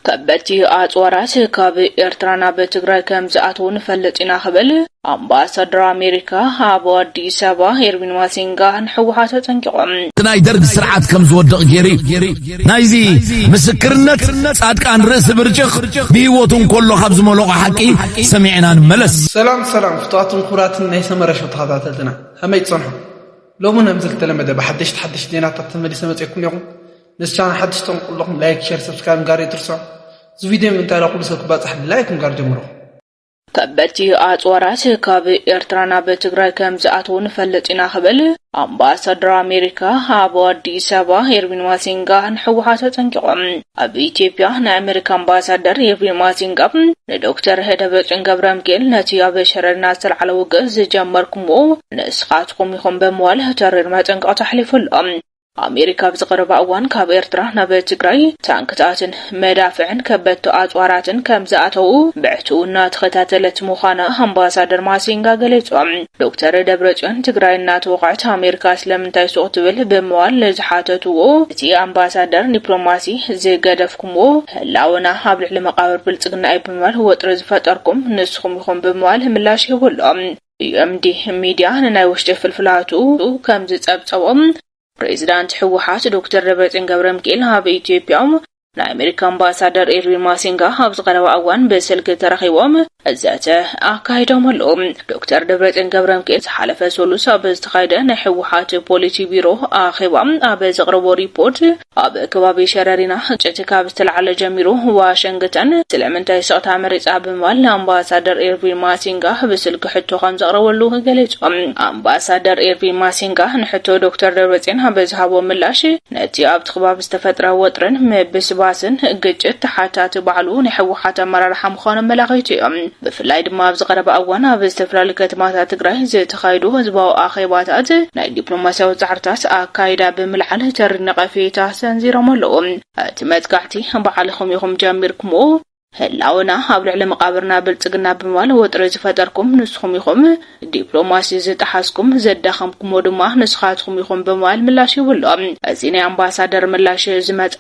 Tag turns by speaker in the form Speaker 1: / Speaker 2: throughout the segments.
Speaker 1: ከበድቲ ኣጽዋራት ካብ ኤርትራ ናብ ትግራይ ከም ዝኣትዉ ንፈልጥ ኢና ክብል ኣምባሳደር ኣሜሪካ ኣብ ኣዲስ ኣበባ ኤርቪን ማሲንጋ ንሕወሓት ኣጠንቂቑ። ናይ ደርግ ስርዓት
Speaker 2: ከም ዝወድቕ ገይሩ እዩ። ናይዚ ምስክርነት ጻድቃን ርእሲ ብርጭቕ ብህይወቱ እንከሎ ካብ ዝመለቖ ሓቂ ሰሚዕና ንመለስ። ሰላም ሰላም
Speaker 3: ፍቱዋትን ኩቡራትን ናይ ሰመረ ሸው ተኸታተልትና ከመይ ትጸንሑ ሎሚ ነምዚ ልተለመደ ብሓደሽቲ ሓደሽቲ ዜናታት ተመሊሰ መጼኩምኔኹ ንቻና ሓድሽ ትኾኑ ኩለኹም ላይክ ሸር ሰብስክራይብ ምግባር ኣይትርስዑ እዚ ቪድዮ ንምንታይ ንኹሉ ሰብ ክባፃሕ ብላይክ ምግባር ጀምሩ። ከበድቲ
Speaker 1: ኣፅዋራት ካብ ኤርትራ ናብ ትግራይ ከምዝኣትዉ ንፈልጥ ኢና ክብል ኣምባሳደር ኣሜሪካ ኣብ ኣዲስ ኣበባ ኤርቪን ማሲንጋ ንሕወሓት ኣጠንቂቑ። ኣብ ኢትዮጵያ ናይ ኣሜሪካ ኣምባሳደር ኤርቪን ማሲንጋ ንዶክተር ደብረፅዮን ገብረምክኤል ነቲ ኣብ ሸረሪና ዝተልዓለ ውግእ ዝጀመርኩምዎ ንስኻትኩም ኢኹም ብምባል ተሪር መጠንቀቕታ ኣሕሊፉ ኣሎ። ኣሜሪካ ኣብዚ ቀረባ እዋን ካብ ኤርትራ ናብ ትግራይ ታንክታትን መዳፍዕን ከበድቲ ኣጽዋራትን ከም ዝኣተዉ ብዕቱው እናተኸታተለት ምዃና ኣምባሳደር ማሲንጋ ገሊጾም። ዶክተር ደብረጽዮን ትግራይ እናተወቕዐት ኣሜሪካ ስለምንታይ ሱቕ ትብል ብምባል ንዝሓተትዎ እቲ ኣምባሳደር ዲፕሎማሲ ዝገደፍኩምዎ ህላወና ኣብ ልዕሊ መቓብር ብልጽግና እዩ ብምባል ወጥሪ ዝፈጠርኩም ንስኹም ኢኹም ብምባል ምላሽ ሂቡሎም። ዩኤምዲ ሚድያ ንናይ ውሽጢ ፍልፍላቱ ከም ዝጸብጸቦ፣ ፕሬዚዳንት ህወሓት ዶክተር ደብረጽዮን ገብረምኪኤል ኣብ ኢትዮጵያ ናይ ኣሜሪካ ኣምባሳደር ኤርቪን ማሲንጋ ኣብዚ ቀረባ እዋን ብስልኪ ተራኺቦም ዘተ ኣካይዶም ኣለዉ። ዶክተር ደብረጽዮን ገብረምኪኤል ዝሓለፈ ሰሉስ ኣብ ዝተኻየደ ናይ ህወሓት ፖሊሲ ቢሮ ኣኼባ ኣብ ዘቕረቦ ሪፖርት ኣብ ከባቢ ሸረሪና ግጭት ካብ ዝተላዕለ ጀሚሩ ዋሸንግተን ስለምንታይ ስቕታ መሪጻ ብምባል ንኣምባሳደር ኢርቪን ማሲንጋ ብስልኪ ሕቶ ከም ዘቕረበሉ ገሊጹ። ኣምባሳደር ኢርቪን ማሲንጋ ንሕቶ ዶክተር ደብረጽዮን ኣብ ዝሃቦ ምላሽ ነቲ ኣብቲ ከባቢ ዝተፈጥረ ወጥርን ምብስባስን ግጭት ተሓታቲ ባዕሉ ናይ ህወሓት ኣመራርሓ ምዃኑ ኣመላኺቱ እዩ። ብፍላይ ድማ ኣብዚ ቀረባ እዋን ኣብ ዝተፈላለዩ ከተማታት ትግራይ ዝተኻየዱ ህዝባዊ ኣኼባታት ናይ ዲፕሎማስያዊ ጻዕርታት ኣካይዳ ብምልዓል ተሪር ነቐፌታ ሰንዚሮም ኣለዉ። እቲ መጥቃዕቲ ባዕልኹም ኢኹም ጀሚርኩምዎ፣ ህላወና ኣብ ልዕሊ መቓብርና ብልጽግና ብምባል ወጥሪ ዝፈጠርኩም ንስኹም ኢኹም፣ ዲፕሎማሲ ዝጠሓስኩም፣ ዘዳኸምኩምዎ ድማ ንስኻትኩም ኢኹም ብምባል ምላሽ ሂቡ ኣሎ። እዚ ናይ ኣምባሳደር ምላሽ ዝመጸ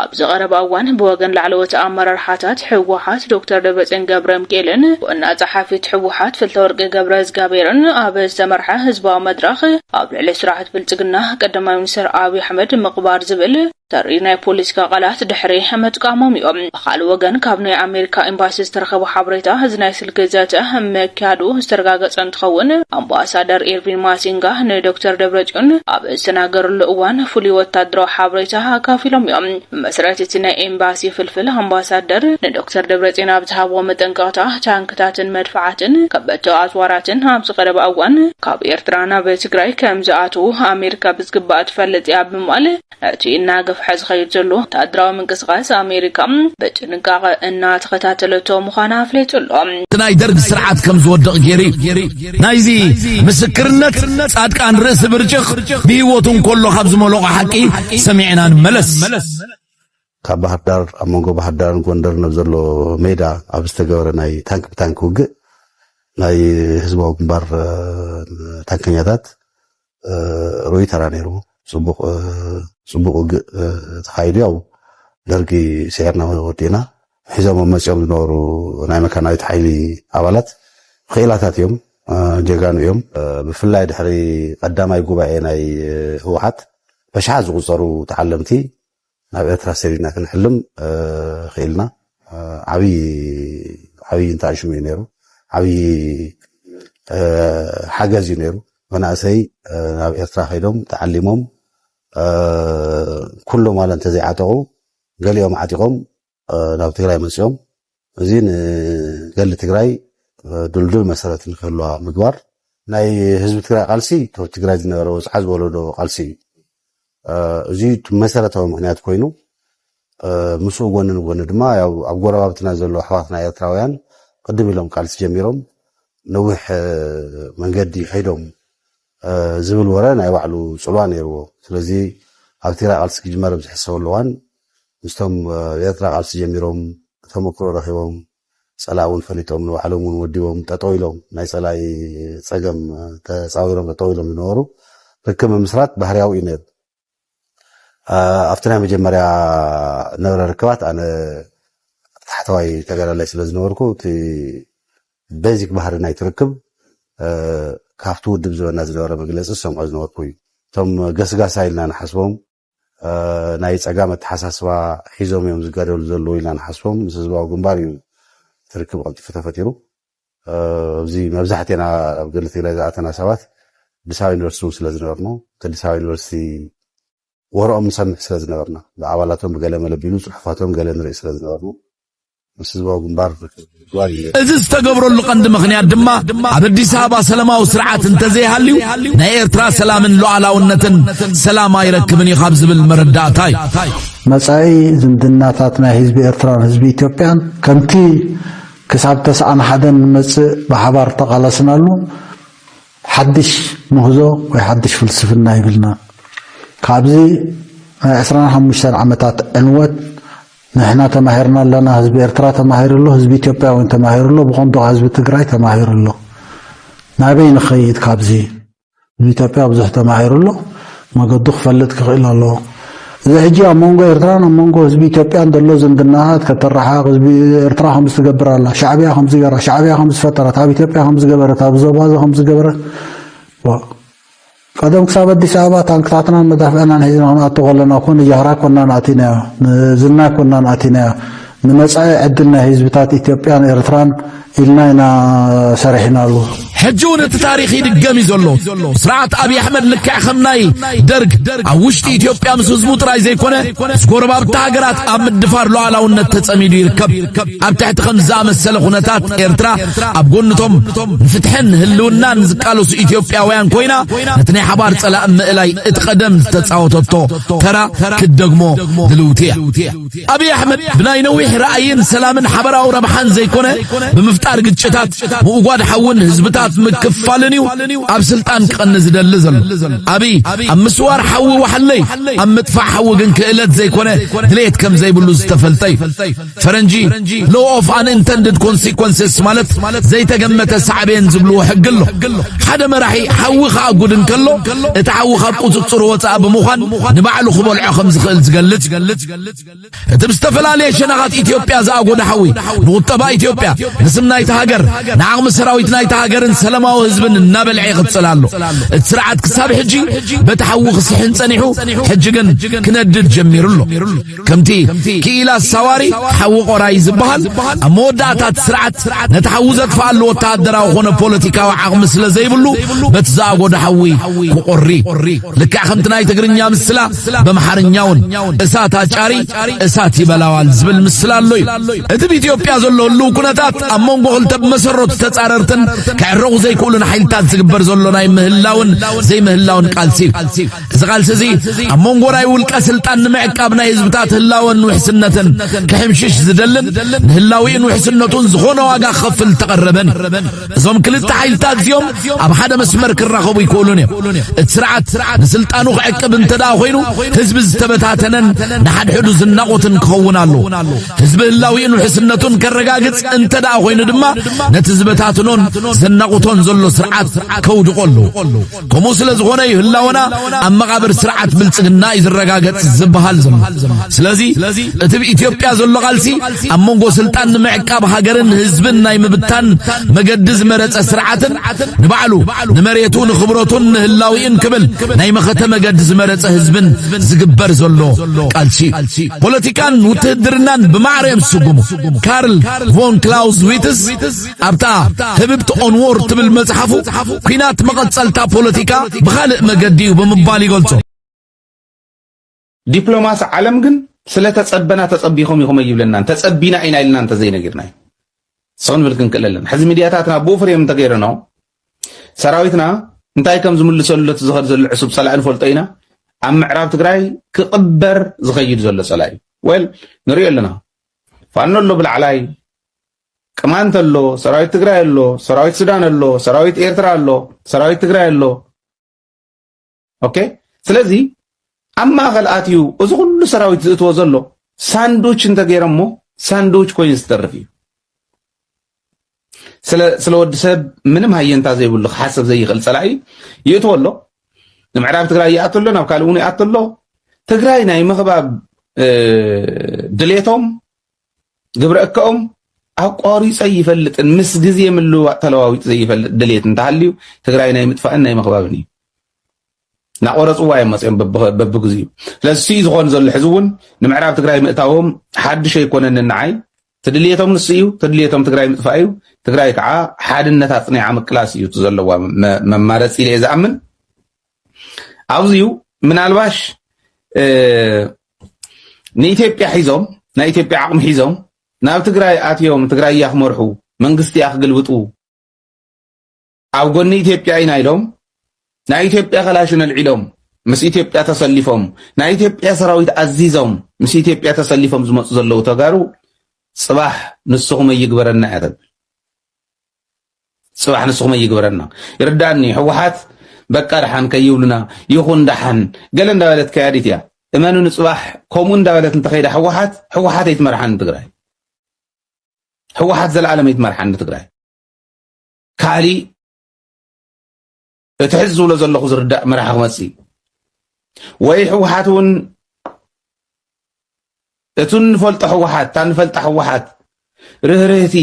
Speaker 1: ኣብዚ ቀረባ እዋን ብወገን ላዕለዎት ኣመራርሓታት ህወሓት ዶክተር ደብረጽዮን ገብረምቅኤልን ዋና ጸሓፊት ህወሓት ፍልተወርቂ ገብረእዝጋብሄርን ኣብ ዝተመርሐ ህዝባዊ መድረኽ ኣብ ልዕሊ ስርዓት ብልጽግና ቀዳማይ ሚኒስትር ኣብዪ ኣሕመድ ምቕባር ዝብል ተሪር ናይ ፖለቲካ ቃላት ድሕሪ ምጥቃሞም እዮም። ብካልእ ወገን ካብ ናይ ኣሜሪካ ኤምባሲ ዝተረኸበ ሓበሬታ እዚ ናይ ምልኪ ዘተ ምክያዱ ዝተረጋገፀ እንትኸውን፣ ኣምባሳደር ኢርቪን ማሲንጋ ንዶክተር ደብረፅዮን ኣብ ዝተናገርሉ እዋን ፍሉይ ወታደራዊ ሓበሬታ ኣካፊሎም እዮም። ብመሰረት እቲ ናይ ኤምባሲ ፍልፍል፣ ኣምባሳደር ንዶክተር ደብረፅዮን ኣብ ዝሃብዎ መጠንቀቕታ፣ ታንክታትን መድፍዓትን ከበድቲ ኣፅዋራትን ኣብዚ ቀረባ እዋን ካብ ኤርትራ ናብ ትግራይ ከምዝኣትዉ ኣሜሪካ ብዝግባእ ትፈልጥ እያ ብምባል ነቲ እናገፍሐ ዝኸይድ ዘሎ ወተሃደራዊ ምንቅስቓስ ኣሜሪካ ብጥንቃቐ እናተኸታተለቶ ምዃና ኣፍሊጡ ኣሎ። እቲ ናይ ደርግ ስርዓት
Speaker 2: ከም ዝወድቕ ገይሩ እዩ። ናይዚ ምስክርነት ጻድቃን ርእሲ ብርጭቕ ብህይወቱ እንከሎ ካብ ዝመለቖ ሓቂ ሰሚዕና ንመለስ። ካብ
Speaker 4: ባህርዳር ኣብ መንጎ ባህርዳርን ጎንደርን ኣብ ዘሎ ሜዳ ኣብ ዝተገበረ ናይ ታንክ ብታንክ ውግእ ናይ ህዝባዊ ግንባር ታንከኛታት ርኡይ ተራ ነይሩ ጽቡቅ ጽቡቅ ውግእ ተኻይዱ ያው ደርጊ ስዒርና ወዲእና ሒዞሞ መጺኦም ዝነበሩ ናይ መካናዊት ሓይሊ ኣባላት ክኢላታት እዮም ጀጋኑ እዮም ብፍላይ ድሕሪ ቀዳማይ ጉባኤ ናይ ህወሓት በሽሓት ዝቁጸሩ ተዓለምቲ ናብ ኤርትራ ሰዲድና ክንሕልም ክኢልና ዓብይ ዓብይ እንታይሽሙ እዩ ነይሩ ዓብይ ሓገዝ እዩ ነይሩ መናእሰይ ናብ ኤርትራ ከይዶም ተዓሊሞም ኩሎም ዋላ እንተዘይዓጠቑ ገሊኦም ዓጢቖም ናብ ትግራይ መፅኦም እዚ ንገድሊ ትግራይ ድልዱል መሰረት ንክህልዋ ምግባር ናይ ህዝቢ ትግራይ ቃልሲ ካብ ትግራይ ዝነበረ ወፅዓ ዝወለዶ ቃልሲ እዩ እዚ መሰረታዊ ምክንያት ኮይኑ ምስኡ ጎኒ ንጎኒ ድማ ያው ኣብ ጎረባብትና ዘሎ ኣሕዋትና ኤርትራውያን ቅድም ኢሎም ቃልሲ ጀሚሮም ነዊሕ መንገዲ ኸይዶም ዝብል ወረ ናይ ባዕሉ ጽልዋ ነይርዎ። ስለዚ ኣብ ትግራይ ቃልሲ ክጅመር ኣብ ዝሕሰበሉ እዋን ምስቶም ኣብ ኤርትራ ቃልሲ ጀሚሮም ተመክሮ ረኺቦም ጸላኢ እውን ፈሊጦም ንባዕሎም እውን ወዲቦም ጠጠው ኢሎም ናይ ጸላኢ ጸገም ተጻዊሮም ጠጠው ኢሎም ዝነበሩ ርክብ ምምስራት ባህርያዊ እዩ ነይሩ። ኣብቲ ናይ መጀመርያ ነበረ ርክባት ኣነ ታሕተዋይ ተጋዳላይ ስለ ዝነበርኩ እቲ ቤዚክ ባህሪ ናይ ትርክብ ካብቲ ውድብ ዝበና ዝነበረ መግለፂ ዝሰምዖ ዝነበርኩ እዩ እቶም ገስጋሳ ኢልና ንሓስቦም ናይ ፀጋም ኣተሓሳስባ ሒዞም እዮም ዝጋደሉ ዘለዉ ኢልና ንሓስቦም ምስ ህዝባዊ ግንባር እዩ ትርክብ ቀልጢፉ ተፈጢሩ ኣብዚ መብዛሕቴና ኣብ ገድሊ ትግራይ ዝኣተና ሰባት ኣዲስ ኣበባ ዩኒቨርሲቲ እውን ስለዝነበርና እቲ ኣዲስ ኣበባ ዩኒቨርሲቲ ወረኦም ንሰምዕ ስለዝነበርና ብኣባላቶም ብገለ መለቢሉ ፅሑፋቶም ገለ ንርኢ ስለዝነበርና ምስ ህዝባዊ ግንባር ግባር እዩ እዚ
Speaker 2: ዝተገብረሉ ቀንዲ ምኽንያት ድማ ኣብ ኣዲስ ኣበባ ሰላማዊ ስርዓት እንተዘይሃልዩ ናይ ኤርትራ ሰላምን ሉዓላውነትን ሰላም ኣይረክብን እዩ ካብ ዝብል መረዳእታ እዩ መጻኢ
Speaker 5: ዝምድናታት ናይ ህዝቢ ኤርትራን ህዝቢ ኢትዮጵያን ከምቲ ክሳብ ተስዓን ሓደን ንመጽእ ብሓባር እተቓለስናሉ ሓድሽ ምህዞ ወይ ሓድሽ ፍልስፍና ይብልና። ካብዚ ናይ ዕስራን ሓሙሽተን ዓመታት ዕንወት ንሕና ተማሂርና ኣለና፣ ህዝቢ ኤርትራ ተማሂሩ ኣሎ፣ ህዝቢ ኢትዮጵያ እውን ተማሂሩ ኣሎ፣ ብቐንዱ ከኣ ህዝቢ ትግራይ ተማሂሩ ኣሎ። ናበይ ንኸይድ ካብዚ? ንኢትዮጵያ ብዙሕ ተማሂሩ ኣሎ፣ መገዱ ክፈልጥ ክኽእል ኣለዎ። እዚ ሕጂ ኣብ መንጎ ኤርትራን ኣብ መንጎ ህዝቢ ኢትዮጵያን ዘሎ ዝምድናታት ከተረሓቕ ህዝቢ ኤርትራ ከምዚ ትገብር ኣላ፣ ሻዕብያ ከምዚ ገራ፣ ሻዕብያ ከምዚ ፈጠረት፣ ኣብ ኢትዮጵያ ከምዚ ገበረት፣ ኣብ ዞባዚ ከምዚ ገበረት ቀደም ክሳብ ኣዲስ ኣበባ ታንክታትናን መዳፍዕናን ሒዝና ክንኣቱ ከለና እኮ ንጃህራ ኮናን ኣቲናዮ ንዝና ኮናን ኣቲናዮ ንመጻኢ ዕድል ናይ ህዝብታት ኢትዮጵያን ኤርትራን ኢልና ኢና ሰሪሕናሉ። ሕጂ እውን
Speaker 2: እቲ ታሪኽ ይድገም እዩ ዘሎ። ስርዓት ኣብዪ ኣሕመድ ልክዕ ከም ናይ ደርግ ኣብ ውሽጢ ኢትዮጵያ ምስ ህዝቡ ጥራይ ዘይኮነ ምስ ጎረባብቲ ሃገራት ኣብ ምድፋር ሉዓላውነት ተጸሚዱ ይርከብ። ኣብ ትሕቲ ከም ዝኣመሰለ ኩነታት ኤርትራ ኣብ ጎንቶም ንፍትሕን ህልውናን ዝቃለሱ ኢትዮጵያውያን ኮይና ነቲ ናይ ሓባር ጸላእ ምእላይ እቲ ቀደም ዝተጻወተቶ ተራ ክትደግሞ ድልውቲ እያ። ኣብይ ኣሕመድ ብናይ ነዊሕ ራእይን ሰላምን ሓበራዊ ረብሓን ዘይኮነ ብምፍጣር ግጭታት ምውጓድ ሓውን ህዝብታት ምክፋልን እዩ ኣብ ስልጣን ክቐኒ ዝደሊ ዘሎ ኣብይ ኣብ ምስዋር ሓዊ ዋሕለይ ኣብ ምጥፋእ ሓዊ ግን ክእለት ዘይኮነ ድሌት ከም ዘይብሉ ዝተፈልጠ እዩ ፈረንጂ ሎ ኦፍ ኣንኢንተንድድ ኮንሲኮንስስ ማለት ዘይተገመተ ሳዕቤን ዝብልዎ ሕጊ ኣሎ ሓደ መራሒ ሓዊ ከኣጉድ እንከሎ እቲ ሓዊ ካብ ቁፅፅሩ ወፃእ ብምዃን ንባዕሉ ክበልዖ ከም ዝኽእል ዝገልፅ ዝገልጽ እቲ ብዝተፈላለየ ሸነኻት ኢትዮጵያ ዝኣጎደ ሓዊ ንቁጠባ ኢትዮጵያ ንስም ናይቲ ሃገር ንዓቕሚ ሰራዊት ናይቲ ሃገርን ሰላማዊ ህዝብን እናበልዐ ይቕፅል ኣሎ። እቲ ስርዓት ክሳብ ሕጂ በቲ ሓዊ ክስሕን ጸኒሑ ሕጂ ግን ክነድድ ጀሚሩ ኣሎ። ከምቲ ክኢላ ሳዋሪ ሓዊ ቆራይ ዝበሃል ኣብ መወዳእታ እቲ ስርዓት ነቲ ሓዊ ዘጥፍኣሉ ወተሃደራዊ ኮነ ፖለቲካዊ ዓቕሚ ስለ ዘይብሉ በቲ ዝኣጎደ ሓዊ ክቆሪ ልክዕ ከምቲ ናይ ትግርኛ ምስላ በምሓርኛውን እሳት ኣጫሪ እሳት ይበላዋል ዝብል ምስል ኣሎ እዩ እቲ ብ ኢትዮጵያ ዘሎ ህልው ኩነታት ኣብ መንጎ ክልተ ብመሰረቱ ተጻረርትን ክዕረቑ ዘይክእሉን ሓይልታት ዝግበር ዘሎ ናይ ምህላውን ዘይምህላውን ቃልሲ እዩ እዚ ቃልሲ እዚ ኣብ መንጎ ናይ ውልቀ ስልጣን ንምዕቃብ ናይ ህዝብታት ህላወን ውሕስነትን ክሕምሽሽ ዝደልን ንህላዊኡን ውሕስነቱን ዝኾነ ዋጋ ክኸፍል ተቐረበን እዞም ክልተ ሓይልታት እዚኦም ኣብ ሓደ መስመር ክራኸቡ ይክእሉን እዮም እቲ ስርዓት ንስልጣኑ ክዕቅብ እንተ ደኣ ኮይኑ ህዝቢ ዝተበታተነን ንሓድሕዱ ዝናቖትን ክኸውን ኣለዎ ህዝቢ ህላዊኡን ውሕስነቱን ከረጋግጽ እንተ ደኣ ኮይኑ ድማ ነቲ ዝበታትኖን ዘናቑቶን ዘሎ ስርዓት ከውድቖ ኣለዎ ከምኡ ስለ ዝኾነ እዩ ህላወና ኣብ መቓብር ስርዓት ብልጽግና እዩ ዝረጋገጽ ዝበሃል ዘሎ ስለዚ እቲ ብኢትዮጵያ ዘሎ ቃልሲ ኣብ መንጎ ስልጣን ንምዕቃብ ሃገርን ህዝብን ናይ ምብታን መገዲ ዝመረጸ ስርዓትን ንባዕሉ ንመሬቱ ንኽብረቱን ንህላዊኡን ክብል ናይ መኸተ መገዲ ዝመረጸ ህዝብን ዝግበር ዘሎ ቃልሲ ፖለቲካን ውትህድርናን ብማዕረ እዮም ዝስጉሙ ካርል ቮን ክላውዝ ዊትስ ኣብታ ህብብቲ ኦንዎር ትብል መጽሓፉ ኩናት መቐጸልታ ፖለቲካ ብኻልእ መገዲ እዩ ብምባል ይገልጾ።
Speaker 6: ዲፕሎማሲ ዓለም ግን ስለተጸበና ተጸቢኹም ኢኹም ኣይብለናን ተጸቢና ኢና ኢልና እንተዘይነጊርና እዩ ሰው ንብል ክንክእል ኣለና። ሕዚ ሚድያታትና ብኡ ፍሬም እንተገይረኖ ሰራዊትና እንታይ ከም ዝምልሰሉ እቲ ዝኸድ ዘሎ ዕሱብ ጸላኢ ንፈልጦ ኢና። ኣብ ምዕራብ ትግራይ ክቕበር ዝኸይድ ዘሎ ጸላኢ ወል ንሪኦ ኣለና። ፋኖ ኣሎ ብላዕላይ ቅማንት ኣሎ፣ ሰራዊት ትግራይ ኣሎ፣ ሰራዊት ሱዳን ኣሎ፣ ሰራዊት ኤርትራ ኣሎ፣ ሰራዊት ትግራይ ኣሎ። ኦኬ ስለዚ ኣብ ማእኸል ኣትዩ እዚ ኩሉ ሰራዊት ዝእትዎ ዘሎ ሳንዱች እንተገይሮሞ ሳንዱች ኮይኑ ዝተርፍ እዩ። ስለ ወዲ ሰብ ምንም ሃየንታ ዘይብሉ ክሓሰብ ዘይኽእል ፀላኢ ይእትዎ ኣሎ። ንምዕራብ ትግራይ ይኣቶ ኣሎ፣ ናብ ካልእ እውን ይኣቶ ኣሎ። ትግራይ ናይ ምኽባብ ድሌቶም ግብረ እከኦም ኣቋሪፀ ይፈልጥን ምስ ግዜ ምልውዋጥ ተለዋዊጡ ዘይፈልጥ ድሌት እንተሃልዩ ትግራይ ናይ ምጥፋእን ናይ ምኽባብን እዩ እናቆረፅዋ እዮም መፅኦም በብግዚኡ ስለዚ ስዩ ዝኾን ዘሎ ሕዚ እውን ንምዕራብ ትግራይ ምእታዎም ሓድሽ ኣይኮነን ንዓይ ትድልየቶም ንሱ እዩ ትድልየቶም ትግራይ ምጥፋእ እዩ ትግራይ ከዓ ሓድነት ኣፅኒዓ ምቅላስ እዩ እቲ ዘለዋ መማረፂ ኢለ እየ ዝኣምን ኣብዚዩ ምናልባሽ ንኢትዮጵያ ሒዞም ናይ ኢትዮጵያ ዓቕሚ ሒዞም ናብ ትግራይ ኣትዮም ትግራይ እያ ክመርሑ መንግስቲ እያ ክግልብጡ ኣብ ጎኒ ኢትዮጵያ ኢና ኢሎም ናይ ኢትዮጵያ ከላሽን ኣልዒሎም ምስ ኢትዮጵያ ተሰሊፎም ናይ ኢትዮጵያ ሰራዊት ኣዚዞም ምስ ኢትዮጵያ ተሰሊፎም ዝመፁ ዘለዉ ተጋሩ ፅባሕ ንስኹም ኣይግበረና እያ ተብል ጽባሕ ንስኹም ይግበረና ይርዳኒ ሕወሓት በቃ ደሓን ከይብሉና ይኹን ደሓን ገለ እንዳበለት ከያዲት እያ እመኑ ንጽባሕ ከምኡ እንዳበለት እንተኸይዳ ሕወሓት ሕወሓት ኣይትመርሓን ትግራይ ሕወሓት ዘለዓለም ኣይትመርሓን ትግራይ ካሊ እቲ ሕዚ ዝብሎ ዘለኹ ዝርዳእ መራሒ ክመፅእ እዩ ወይ ህወሓት እውን እቲ እንፈልጦ ህወሓት እታ እንፈልጣ ህወሓት ርህርህቲ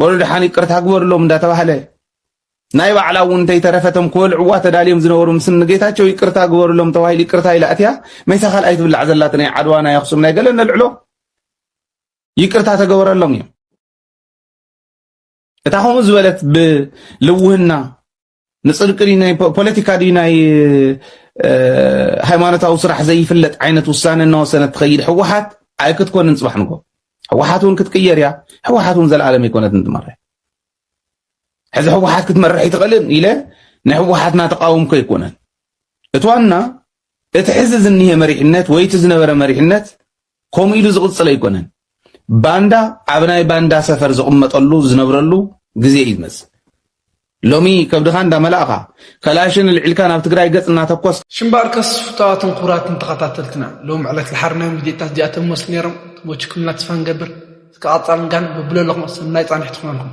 Speaker 6: በሉ ድሓን ይቅርታ ግበርሎም እንዳተባህለ ናይ ባዕላ እውን እንተይተረፈቶም ክበልዕዋ ተዳልዮም ዝነበሩ ምስ ንጌታቸው ይቅርታ ግበርሎም ተባሂሉ ይቅርታ ኢላ እትያ መይታ ካልኣይ ትብላዕ ዘላት ናይ ዓድዋ ናይ ኣክሱም ናይ ገለ ነልዕሎ ይቅርታ ተገበረሎም እዮም እታ ከምኡ ዝበለት ብልውህና ንፅድቂ ናይ ፖለቲካ ድዩ ናይ ሃይማኖታዊ ስራሕ ዘይፍለጥ ዓይነት ውሳነ እናወሰነት ትኸይድ ህወሓት ኣይክትኮንን ፅባሕ ንጎ ህወሓት እውን ክትቅየር እያ ህወሓት እውን ዘለኣለም ኣይኮነትን ትመርሕ ሕዚ ህወሓት ክትመርሕ ይትኽእልን ኢለ ናይ ህወሓትና ተቃወምኮ ኣይኮነን እቲ ዋና እቲ ሕዚ ዝኒሄ መሪሕነት ወይ እቲ ዝነበረ መሪሕነት ከምኡ ኢሉ ዝቕጽል ኣይኮነን። ባንዳ ኣብ ናይ ባንዳ ሰፈር ዝቕመጠሉ ዝነብረሉ ግዜ እዩ ዝመጽእ። ሎሚ ከብድኻ እንዳመላእኻ ከላሽን ኣልዒልካ ናብ ትግራይ ገጽ እናተኮስ ሽምባርከስ
Speaker 3: ፍታዋትን ክቡራትን ተኸታተልትና ሎም ዕለት ዝሓርናዮም ቪድዮታት እዚኣቶም መስሉ ነይሮም ወችኩምና ተስፋ ንገብር እስከ ቐጻልን ጋን በብለለኹም ሰናይ ጻንሒት ይኹነልኩም